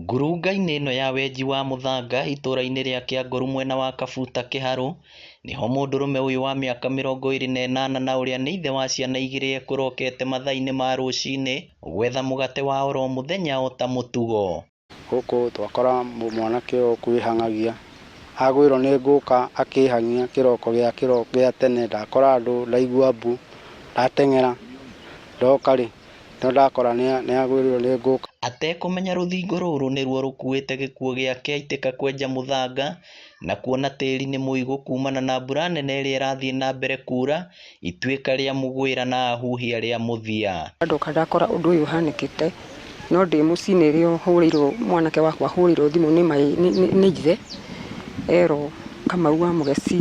Ngurunga-inĩ ĩno ya wenji wa mũthanga itũra-inĩ rĩa Kĩangoru mwena wa Kabuta Kĩharũ, nĩho mũndũrũme ũyũ wa mĩaka mĩrongo ĩrĩ na ĩnana na ũrĩa nĩ ithe wa ciana igĩrĩ ekũrokete mathaa-inĩ ma rũcinĩ gwetha mũgate wa oro mũthenya ota mũtugo. Gũkũ twakora mwanake ũyũ ũkwĩhang'agia, agwĩrwo nĩ ngũka akehang'ia kĩroko gĩa kĩroko gĩa tene ndakora andũ ndaigua mbu, ndateng'era ndoka rĩ No ndakora nĩagwĩrĩirwo nĩ ngũka. Atekũmenya rũthingo rũrũ nĩruo rũkuĩte gĩkuũ gĩake aitĩka kwenja mũthanga na kuona tĩri nĩ mũigũ kumana na mbura nene ĩrĩa ĩrathiĩ na mbere kuura, ituĩka rĩa mũgwĩra na ahuhia rĩa mũthia. Ndoka ndakora ũndũ ũyũ ũhanĩkĩte, no ndĩ mũciĩ nĩrĩo hũrĩirwo, mwanake wakwa ahũrĩirwo thimũ nĩ my nĩ ithe, erwo Kamau wa Mũgeci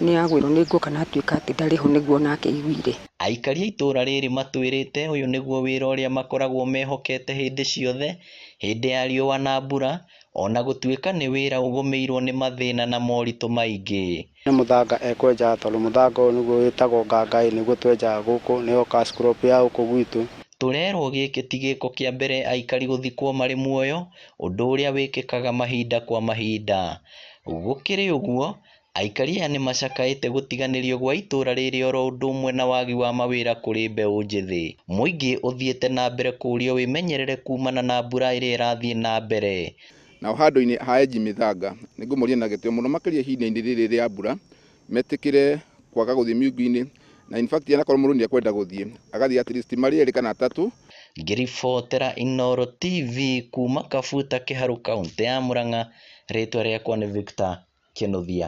nĩagwĩrwo nĩ ngũka na atuĩka atĩ ndarĩ ho nĩguo onake aiguire. Aikari a itũũra rĩĩrĩ matwĩrĩte ũyũ nĩguo wĩra ũrĩa makoragwo mehokete hĩndĩ ciothe, hĩndĩ ya riũa na mbura, o na gũtuĩka nĩ wĩra ũgũmĩirwo nĩ mathĩna na moritũ maingĩ. Ũyũ nĩ mũthanga ekwenja tondũ mũthanga ũyũ nĩguo wĩtagwo ngangaĩ nĩguo twenjaga gũkũ, nĩyo cash crop ya gũkũ gwitũ. Tũrerwo gĩkĩ ti gĩko kĩa mbere aikari gũthikwo marĩ muoyo, ũndũ ũrĩa wĩkĩkaga mahinda kwa mahinda. Gũkĩrĩ ũguo, Aikari aya nĩmacakaĩte gũtiganĩrio gwa itũra rĩrĩ oro ũndũ ũmwe na wagi wa mawĩra kũrĩ mbeũ njĩthĩ. Mũingĩ ũthiĩte na mbere kũũrio wĩmenyerere kuumana na mbura ĩrĩa ĩrathiĩ na mbere. Nao handũ-inĩ ha Enji Mĩthanga, nĩngũmoria na gĩtĩo mũno makĩria ihinda-inĩ rĩrĩ rĩa mbura, metĩkĩre kwaga gũthiĩ miungu-inĩ Na in fact anakorwo mũndũ nĩ ekwenda gũthiĩ agathiĩ at least marĩ erĩ kana atatũ. Ngĩribotera Inooro TV kuuma Kabuta Kĩharũ Kauntĩ ya Murang'a, rĩtwa rĩakwa nĩ Victor Kĩnũthia.